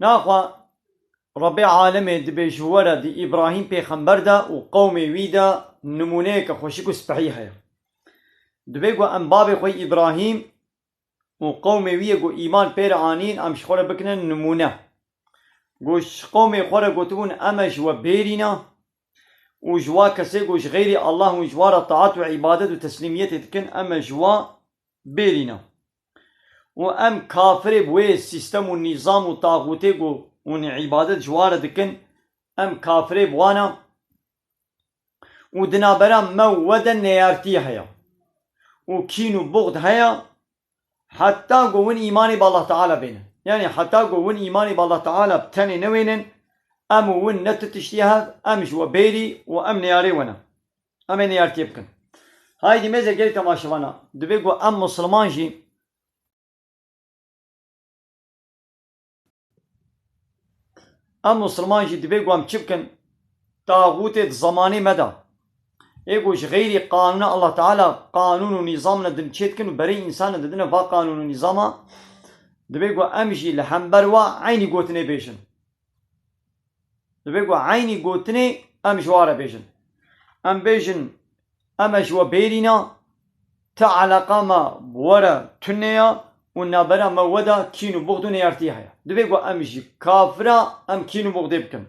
Naxwe Rebê alemê dibêj ji we re di Îbrahîm pêxember de û qewmê wî de nimûneyeke xweşik û spehî heye. Divê ku em bavê xwe Îbrahîm û qewmê wî yê ku îman pê re anîn em ji xwe re bikine nimûne. Ku ji qewmê xwe re gotibûn em e ji we bêrîne û ji wa kesê ku ji xeyrê Allah û ji we re taat û îbadet û teslîmiyetê dikin em e ji we Bêrîna û em kafirê bi wê sîstem û nîzam û taxûtê ku hûn îbadet ji wan re dikin, em kafirê bi wan a û di navbera me û we de neyartî heye û kîn û buxd heye heta ku hûn îmanê bi Allah Teala bênin. Yanî heta ku hûn îmanê bi Allah Teala bi tenê newênin, em û hûn ne tu tiştî hev, em ji we bêrî û em neyarê we ne. Em ê niyartiye bikin. Hay di mêzê gel kemaşivan a, divê ku em musilman jî Em musilman jî divê ku em çi bikin? Taxûtê di zemanê me de ê ku ji xeyrî qanûna Allah Teala qanûn û nîzam ne din çêdikin û berê însan ne didine va qanûn û nîzama, divê ku em jî li hember wa eynî gotinê bêjin. Divê ku eynî gotinê em ji ware bêjin. Em bêjin em e ji we bêrîna, ti eleqa me bi we re tune ye û navbera me û we de kîn û buxd û neyartiyê heye. Divê ku em ji kafira em kîn û buxdê bikin.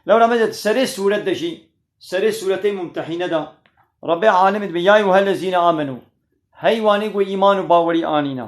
Lewra me de di serê sûret de jî, serê sûretê Mumtehîne de Rebê Alimî dibe, Yayûhellezîne amenû, hey wanê ku îman û bawerî anîne.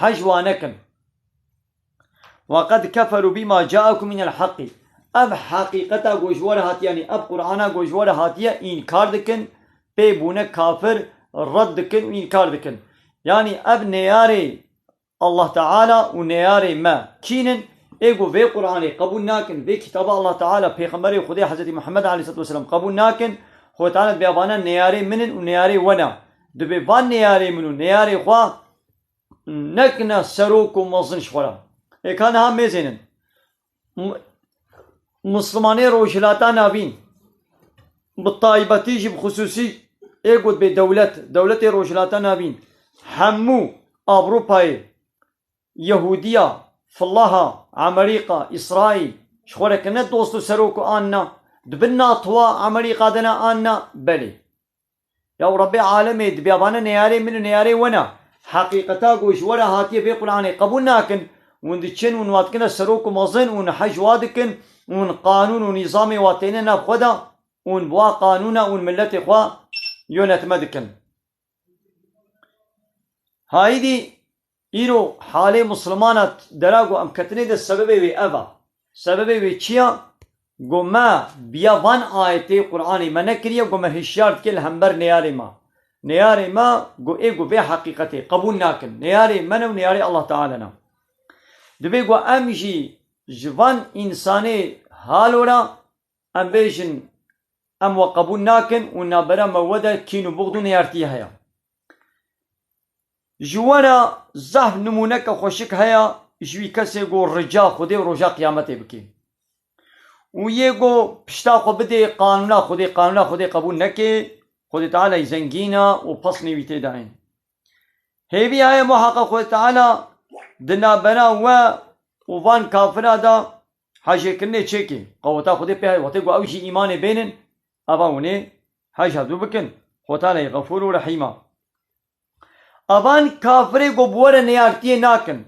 Hej wanekin. Wa qed keferû bîma caekum minel heqî. Ev heqîqeta ku ji were hatiye yanî ev Qur'ana ku ji were hatiye înkar dikin, pê bûne kafir, red dikin û înkar dikin. Yanî ev neyarê Allah Teala û neyarê me kîn in? Ê ku vê Qur'anê qebûl nakin, vê kitaba Allah Teala, pêxemberê Xwedê Hezretî Muhammed aleyhîsselatû weselâm qebûl nakin, Xwedê Teala dibê evanan neyarê min in û neyarê we ne. Dibê van neyarê min û neyarê xwe Nek ne serok û mezin ji xwe re. Ê ka niha mêzên in. Mislimanê Rojhilata Navîn bi taybetî jî bi xisûsî ê gotbê dewlet, dewletê Rojhilata Navîn hemû Ewropayê, Yehûdiya, Filaha, Emerîka, Îsraîl ji xwe re kirine dost û serok û an ne? Di bin natoa Emerîka de ne an ne? Belê. Ya û Rebbê alemê, di bîyabane neyarê min û neyarê wen a. Heqîqeta ku ji we re hatiye vê Quranê qebûl nakin, hûn diçin û hûn wadikine serok û mezin û hûn hej wa dikin û hûn qanûn û nîzamê wa têne nav xwe de û hûn bi wa qanûna hûn miletê xwe yonetme dikin. Haîdî Îro halê Muslimana dera ku em ketine de sebebê wê ev a. Sebebê wê çi ya? Ku me biya van ayetê Quranê me nekiriye ku me hişyar dike li hember neyarê me. Neyarê me ku ê ku vê heqîqetê qebûl nakin. Neyarê me ne û neyarê Allah Teala ne. Divê ku em jî ji van însanê halo re em bêjin em we qebûl nakin û navbera me we de kîn û buxd û neyartiyê heye. Ji we re zehf nimûneke xweşik heye ji wî kesê ku rica Xwedê û roja qiyametê bike û yê ku pişta xwe bidê qanûna Xwedê, qanûna Xwedê qebûl neke, Xwedê Tealay zengîn e û pesnê wî tê de ên. Hêvî heye muheqeq Xwedê Teala di navbera we û van kafira de Hejê kirinê çêkê qeweta Xwedê pê heye. Wextê ku ew jî îmanê bênin, ava hûnê hej hevdû bikin. Xwe tenê Xefûr û Rehîm a. Avan kafirê ku bi we re neyartiyê nakin,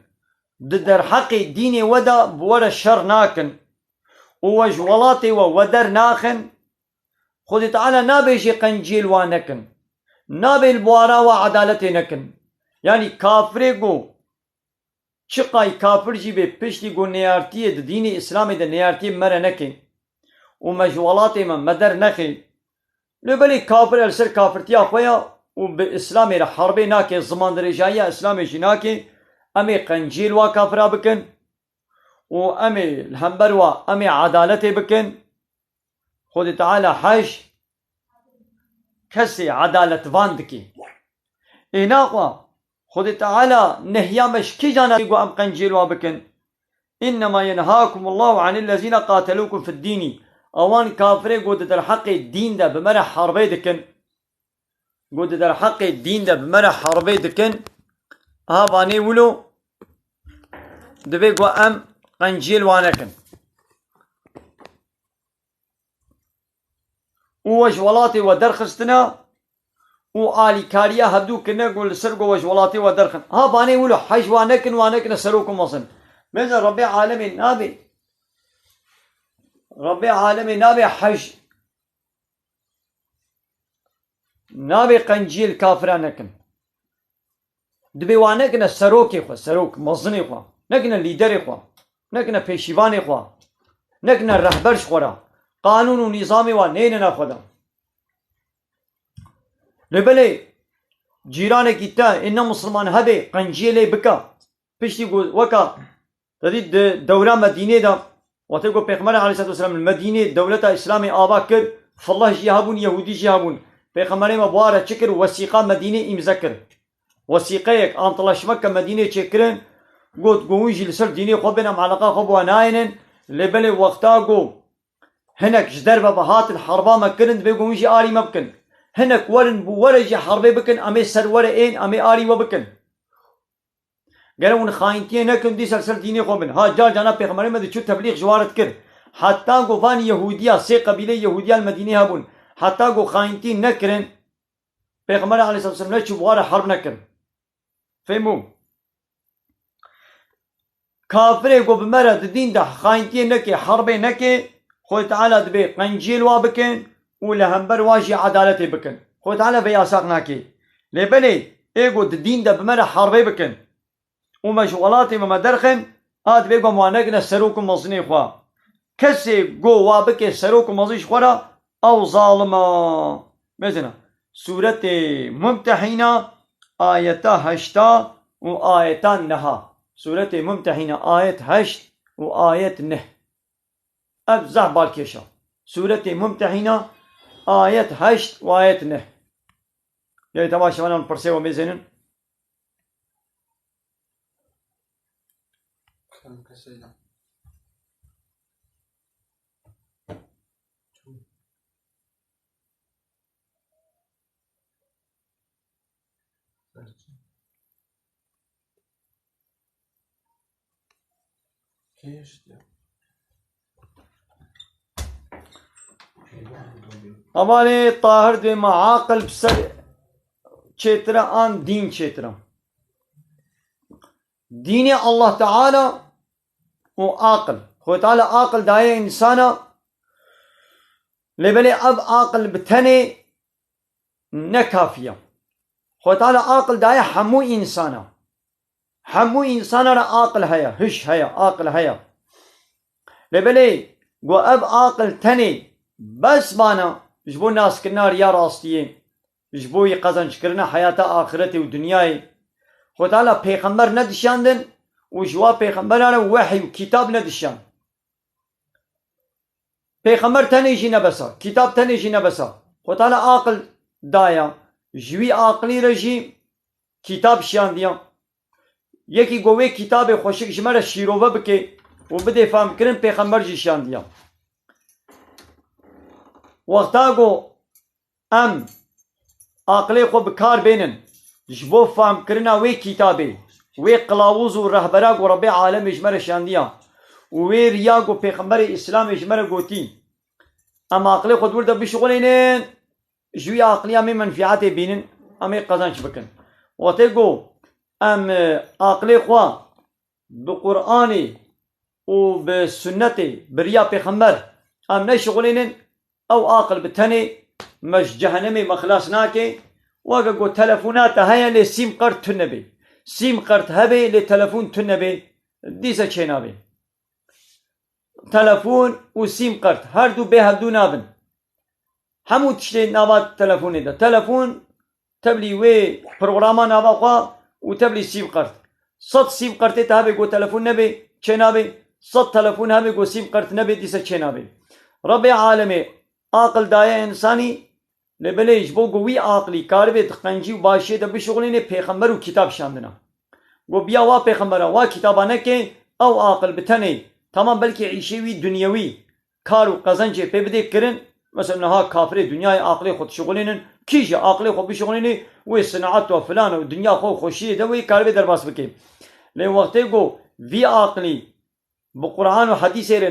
di derheqê dînê we de bi we re şer nakin û we ji welatê we weder naxin, Xwedê Teala nabêjê qenciyê li wan nekin. Nabê li bwara we edaletê nekin. Yanî kafirê ku Çiqay kafir jî bê piştî ku nêartiyê di dînê îslamê de nêartiyê me re neke û me ji welatê me me der nexe lê belê kafir e li ser kafirtiya xwe ya û bi îslamê re herbê nake zimandirêjayiya îslamê jî nake em ê qenciyê li wa kafira bikin û em ê li hember wa em ê edaletê bikin Xwedê Teala hej kesê edaletvan dike. Êna xwe Xwedê Teala nehiya me ji kîjan e ku em qenciyên wan bikin? Înnema yenhâkum Allahu anil lezîne qatelukum fid dînî, Awan kafirên ku di derheqê dîn de bi me re herbê dikin, ku di derheqê dîn de bi me re herbê dikin, ha vanê wilo divê ku em qenciyên wan nekin. û we ji welatê we derxistine û alîkariya hevdû kirine ku li ser ku we ji welatê we derxin. Ha banê wilo hej wan nekin wan nekine serok û mezin. Bêje Rebê alemê nabê Rebê alemê nabê hej nabê qenciyê li kafiran nekin. Dibê wan nekine serokê xwe, serok, mezinê xwe, nekine lîderê xwe, nekine pêşîvanê xwe, nekine rehber ji xwe re. Qanûn û nîzamê wan neyne nav xwe de. Lê belê cîranekî te ên ne misilman hebê qenciyê lê bike, piştî ku weka Tevî di dewra Medînê de watê ku Pêxemberê Aleyhisselatüsselam li Medînê dewleta Îslamê ava kir, Felleh jî hebûn, Yehûdî jî hebûn. Pêxemberê me bûare çi kir? Wesîqa Medînê îmze kir. Wesîqeyek, antlaşmek ke Medînê çêkirin, got ku hûn jî li ser dînê xwe bên em eleqa xwe bi we nayênin, lê belê wexta ku hinek ji derve ve hatin herba me kirin divê ku hûn jî alî me bikin. Hinek werin bû were jî herbê bikin, em ê ser were ên, em ê alî we bikin. Gere hûn xayintiyê nekin dîsa li ser dînê xwe bin. Ha car caran Pêxemberê me diçû teblîx ji warit kir. Heta ku van Yehûdiya sê qebîleyê Yehûdiya li Medînê hebûn. Heta ku xayintî nekirin Pêxember aleyhissalatu vesselam neçû bi wan re herb nekirin. Fêm bû? Kafirê ku bi me re di dîn de xayintiyê neke, herbê neke, Xwedê Teala dibe qenciyê li wan bike, û li hember wan jî edaletê bikin. Xwedê Teala vê yasak nake. Lê belê ê ku di dîn de bi me re herbê bikin û me ji welatê me me derxin, a divê ku em wan nekine serok û mezinê xwe. Kesê ku wa bike serok û mezin ji xwe re, ew zalim e. Mêzina Sûretê Mumtehîna ayeta heşta û ayeta neha. Sûretê Mumtehîna ayet heşt û ayet neh. Ev zaf balkêş e. Sûretê Mumtehîna, ayet heşt û ayet neh. Gelê te baş e belav pirsê we mêzênin? Amanê Tahir dê me aqil bi ser çêtire an dîn çêtire. Dînê Allah Teala û aqil. Xwê Teala aqil daye insana lê belê ev aqil bi tenê ne kafiye. Xwê Teala aqil daye hemû insana. Hemû însanan re aqil heye, hiş heye, aqil heye. Lê belê ku ev aqil tenê bes bana ji bo naskirina riya rastiyê, ji bo yê qezancikirina heyata axiretê û dinyayê, Xwe Teala pêxember nedişandin û ji wan pêxemberan re wehî û kîtab nedişand. Pêxember tenê jî ne bes a, kîtab tenê jî ne bes a. Xwe Teala aqil daye, ji wî aqilî re jî Kîtab şiyandiyan. Yekî ku wê kîtabê xweşik ji me re şîrove bike û bidê fehmkirin pêxember jî şiyandiyan. Wexta ku em aqilê xwe bi kar bênin ji bo fehmkirina wê kîtabê, wê qilawiz û rehbera ku Rebê alemê ji me re şiyandiya û wê riya ku pêxemberê îslamê ji me re gotî, em aqilê xwe di wir de bişixulînin Ji wî aqilî em ê menfîetê bînin, em ê qezenç bikin. Wate got, Em aqilê xwe bi Quranê û bi sunnetê bi riya pêxember em neşixulênin, ew aqil bi tenê me ji cehenemê me xilas nake. Weke got, Telefona te heye lê sîm qert tune bê. Sîm qert hebe lê telefon tune bê dîse çênabe. Telefon û sîm qert her du bê hevdu nabin. Hemû tiştê nava telefonê de. Telefon tevlî wê programa nava xwe û tevlî sîm qert. Sed sîm qertê te hebe ku telefon nebê çênabê, sed telefon hebe ku sîm qert nebê dîsa çênabê. Rebê alemê aqil daye însanî lê belê ji bo ku wî aqilî karibê di qencî û başiyê de bişuxulînê pêxember û kitap şandina. Ku biya wa pêxemberan wa kitaba neke ew aqil bi tenê tamam belkî îşê wî dunyewî Kar û qezencê pê bidê kirin, mesela niha kafirê dinyayê aqilê xwe dişuxulînin, kî jî aqilê xwe bişuxulînî wê sineat û filan û dinya xwe û xweşiyê de wê karibê derbas bikê. Lê wextê ku vî aqilî bi Quran û hedîsê re,